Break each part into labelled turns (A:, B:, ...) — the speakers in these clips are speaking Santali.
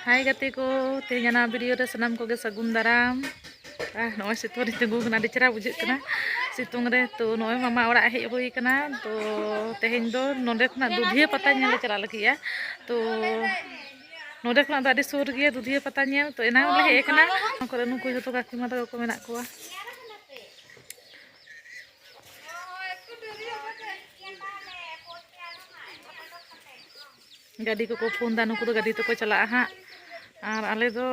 A: ᱦᱟᱭ ᱜᱟᱛᱮ ᱠᱚ ᱛᱮᱦᱮᱧ ᱚᱱᱟ ᱵᱷᱤᱰᱤᱭᱳ ᱨᱮ ᱥᱟᱱᱟᱢ ᱠᱚᱜᱮ ᱥᱟᱹᱜᱩᱱ ᱫᱟᱨᱟᱢ ᱟᱨ ᱱᱚᱜᱼᱚᱭ ᱥᱤᱛᱩᱝ ᱨᱮ ᱛᱤᱸᱜᱩ ᱠᱟᱱᱟ ᱟᱹᱰᱤ ᱪᱮᱦᱨᱟ ᱵᱩᱡᱷᱟᱹᱜ ᱠᱟᱱᱟ ᱥᱤᱛᱩᱝ ᱨᱮ ᱛᱚ ᱱᱚᱜᱼᱚᱭ ᱢᱟᱢᱟ ᱚᱲᱟᱜ ᱦᱮᱡ ᱦᱩᱭ ᱠᱟᱱᱟ ᱛᱚ ᱛᱮᱦᱮᱧ ᱫᱚ ᱱᱚᱰᱮ ᱠᱷᱚᱱᱟᱜ ᱫᱩᱫᱷᱤᱭᱟᱹ ᱯᱟᱛᱟ ᱧᱮᱞ ᱞᱮ ᱪᱟᱞᱟᱜ ᱞᱟᱹᱜᱤᱫᱼᱟ ᱛᱚ ᱱᱚᱰᱮ ᱠᱷᱚᱱᱟᱜ ᱫᱚ ᱟᱹᱰᱤ ᱥᱩᱨ ᱜᱮᱭᱟ ᱫᱩᱫᱷᱤᱭᱟᱹ ᱯᱟᱛᱟ ᱧᱮᱞ ᱛᱚ ᱮᱱᱟᱝ ᱞᱮ ᱦᱮᱡ ᱠᱟᱱᱟ ᱱᱚᱣᱟ ᱠᱚᱨᱮ ᱱᱩᱠᱩ ᱡᱚᱛᱚ ᱠᱟᱠᱤᱢᱟ ᱛᱟᱠᱚ ᱠᱚ ᱢᱮᱱᱟᱜ ᱠᱚᱣᱟ ᱜᱟᱹᱰᱤ ᱠᱚᱠᱚ ᱯᱷᱳᱱ ᱫᱟ ᱱᱩᱠᱩ ᱫᱚ ᱜᱟᱹᱰᱤ ᱛᱮᱠᱚ ᱪᱟᱞᱟᱜᱼᱟ ᱦᱟᱸᱜ ᱟᱨ ᱟᱞᱮ ᱫᱚ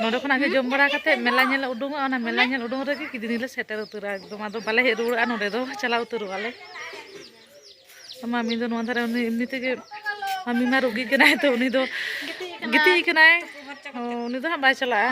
A: ᱱᱚᱰᱮ ᱠᱷᱚᱱᱟᱜ ᱜᱮ ᱡᱚᱢ ᱵᱟᱲᱟ ᱠᱟᱛᱮ ᱢᱮᱞᱟ ᱧᱮᱞ ᱩᱰᱩᱝᱚᱜᱼᱟ ᱚᱱᱟ ᱢᱮᱞᱟ ᱧᱮᱞ ᱩᱰᱩᱝ ᱨᱮᱜᱮ ᱠᱤᱫᱤᱱᱤ ᱞᱮ ᱥᱮᱴᱮᱨ ᱩᱛᱟᱹᱨᱟ ᱮᱠᱫᱚᱢ ᱟᱫᱚ ᱵᱟᱞᱮ ᱦᱮᱡ ᱨᱩᱣᱟᱹᱲᱚᱜᱼᱟ ᱱᱚᱰᱮ ᱫᱚ ᱪᱟᱞᱟᱣ ᱩᱛᱟᱹᱨᱚᱜᱼᱟ ᱞᱮ ᱢᱟᱢᱤ ᱫᱚ ᱱᱚᱣᱟ ᱫᱷᱟᱨᱮ ᱩᱱᱤ ᱮᱢᱱᱤ ᱛᱮᱜᱮ ᱢᱟᱢᱤ ᱢᱟ ᱨᱩᱜᱤ ᱠᱟᱱᱟᱭ ᱛᱚ ᱩᱱᱤ ᱫᱚ ᱜᱤᱛᱤᱡ ᱠᱟᱱᱟᱭ ᱩᱱᱤ ᱫᱚ ᱦᱟᱸᱜ ᱵᱟᱭ ᱪᱟᱞᱟᱜᱼᱟ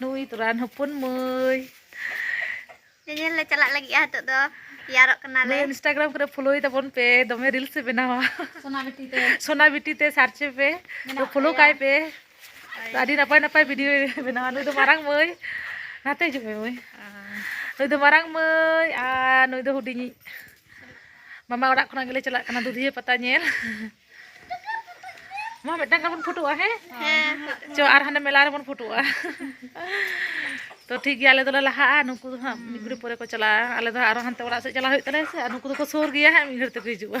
A: ᱱᱩᱭ ᱛᱚᱨᱟᱱ ᱦᱚᱯᱚᱱ ᱢᱟᱹᱭ ᱧᱮᱧᱮᱞ ᱞᱮ ᱪᱟᱞᱟᱜ ᱞᱟᱹᱜᱤᱫᱼᱟ ᱱᱤᱛᱚᱜ ᱫᱚ ᱛᱮᱭᱟᱨᱚᱜ ᱠᱟᱱᱟᱞᱮ ᱤᱱᱥᱴᱟᱜᱨᱟᱢ ᱠᱚᱨᱮ ᱯᱷᱚᱞᱳᱭ ᱛᱟᱵᱚᱱ ᱯᱮ ᱫᱚᱢᱮ ᱨᱤᱞᱥ ᱮ ᱵᱮᱱᱟᱣᱟ ᱥᱳᱱᱟ ᱵᱤᱴᱤ ᱛᱮ ᱥᱳᱱᱟ ᱵᱤᱴᱤ ᱛᱮ ᱥᱟᱨᱪ ᱯᱮ ᱯᱷᱚᱞᱳ ᱠᱟᱭ ᱯᱮ ᱟᱹᱰᱤ ᱱᱟᱯᱟᱭ ᱱᱟᱯᱟᱭ ᱵᱷᱤᱰᱤᱭᱳ ᱵᱮᱱᱟᱣᱟ ᱱᱩᱭ ᱫᱚ ᱢᱟᱨᱟᱝ ᱢᱟᱹᱭ ᱱᱟᱛᱮ ᱦᱤᱡᱩᱜ ᱢᱮ ᱢᱟᱹᱭ ᱱᱩᱭ ᱫᱚ ᱢᱟᱨᱟᱝ ᱢᱟᱹᱭ ᱟᱨ ᱱᱩᱭ ᱫᱚ ᱦᱩᱰᱤᱧᱤᱡ ᱢᱟᱢᱟ ᱚᱲᱟᱜ ᱠᱷᱚᱱᱟᱜ ᱜᱮᱞᱮ ᱪᱟᱞᱟᱜ ᱠᱟᱱᱟ ᱫᱩᱫᱷᱤᱭᱟᱹ ᱯᱟᱛᱟ ᱧᱮᱞ ᱢᱟ ᱢᱤᱫᱴᱟᱝ ᱜᱟᱱ ᱵᱚᱱ ᱯᱷᱳᱴᱳᱜᱼᱟ ᱦᱮᱸ ᱪᱚ ᱟᱨ ᱦᱟᱱᱮ ᱢᱮᱞᱟ ᱨᱮᱵᱚᱱ ᱯᱷᱳᱴᱳᱜᱼᱟ ᱛᱚ ᱴᱷᱤᱠ ᱜᱮᱭᱟ ᱟᱞᱮ ᱫᱚᱞᱮ ᱞᱟᱦᱟᱜᱼᱟ ᱱᱩᱠᱩ ᱫᱚ ᱦᱟᱸᱜ ᱢᱤᱫ ᱜᱷᱟᱹᱲᱤᱡ ᱯᱚᱨᱮ ᱠᱚ ᱪᱟᱞᱟᱜᱼᱟ ᱟᱞᱮ ᱫᱚ ᱟᱨᱚ ᱦᱟᱱᱛᱮ ᱚᱲᱟᱜ ᱥᱮᱫ ᱪᱟᱞᱟᱣ ᱦᱩᱭᱩᱜ ᱛᱟᱞᱮᱭᱟ ᱥᱮ ᱟᱨ ᱱᱩᱠᱩ ᱫᱚᱠᱚ ᱥᱩᱨ ᱜᱮᱭᱟ ᱦᱟᱸᱜ ᱢᱤᱫ ᱜᱷᱟᱹᱲᱤᱡ ᱛᱮᱠᱚ ᱦᱤᱡᱩᱜᱼᱟ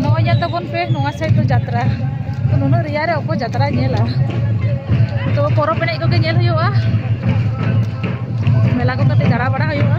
A: ᱱᱚᱜᱼᱚᱭ ᱧᱮᱞ ᱛᱟᱵᱚᱱ ᱯᱮ ᱱᱚᱣᱟ ᱥᱟᱭᱤᱰ ᱫᱚ ᱡᱟᱛᱨᱟ ᱛᱚ ᱱᱩᱱᱟᱹᱜ ᱨᱮᱭᱟᱲ ᱨᱮ ᱚᱠᱚᱭ ᱡᱟᱛᱨᱟᱭ ᱧᱮᱞᱟ ᱛᱚ ᱯᱚᱨᱚᱵᱽ ᱮᱱᱮᱡ ᱠᱚᱜᱮ ᱧᱮᱞ ᱦᱩᱭᱩᱜᱼᱟ ᱢᱮᱞᱟ ᱠᱚ ᱠᱟᱹᱴᱤᱡ ᱫᱟᱬᱟ ᱵᱟᱲᱟ ᱦᱩᱭᱩᱜᱼᱟ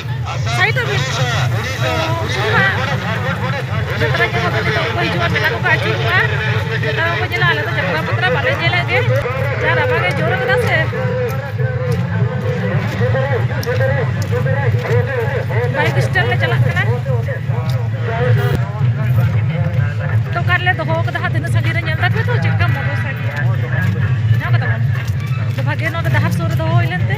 A: ᱥᱟᱭᱤᱰ ᱚᱯᱷ ᱤᱴ ᱛᱚ ᱩᱱᱠᱩ ᱦᱟᱸᱜ ᱡᱟᱛᱨᱟ ᱠᱚ ᱦᱚᱸ ᱡᱚᱛᱚ ᱠᱚ ᱦᱤᱡᱩᱜᱼᱟ ᱢᱮᱞᱟ ᱠᱚᱠᱚ ᱟᱹᱪᱩᱨᱚᱜᱼᱟ ᱡᱟᱛᱨᱟ ᱠᱚᱠᱚ ᱧᱮᱞᱟ ᱟᱞᱮ ᱫᱚ ᱡᱟᱛᱨᱟ ᱯᱟᱛᱨᱟ ᱵᱟᱞᱮ ᱧᱮᱞᱮᱫ ᱜᱮ ᱡᱟ ᱨᱟᱵᱟᱝ ᱮ ᱡᱳᱨ ᱠᱟᱫᱟ ᱥᱮ ᱵᱟᱭᱤᱠ ᱥᱴᱮᱱ ᱞᱮ ᱪᱟᱞᱟᱜ ᱠᱟᱱᱟ ᱛᱚ ᱚᱠᱟ ᱨᱮᱞᱮ ᱫᱚᱦᱚ ᱠᱟᱫᱟ ᱦᱟᱸᱜ ᱛᱤᱱᱟᱹᱜ ᱥᱟᱺᱜᱤᱧ ᱨᱮ ᱧᱮᱞ ᱫᱟᱯᱮ ᱛᱚ ᱪᱮᱫᱠᱟ ᱢᱚᱴᱚᱨ ᱥᱟᱭᱠᱮᱞ ᱧᱟᱢ ᱠᱟᱫᱟ ᱵᱚᱱ ᱛᱚ ᱵᱷᱟᱜᱮ ᱱᱚᱰᱮ ᱰᱟᱦᱟᱨ ᱥᱩᱨ ᱨᱮ ᱫᱚᱦᱚ ᱦᱩᱭ ᱞᱮᱱᱛᱮ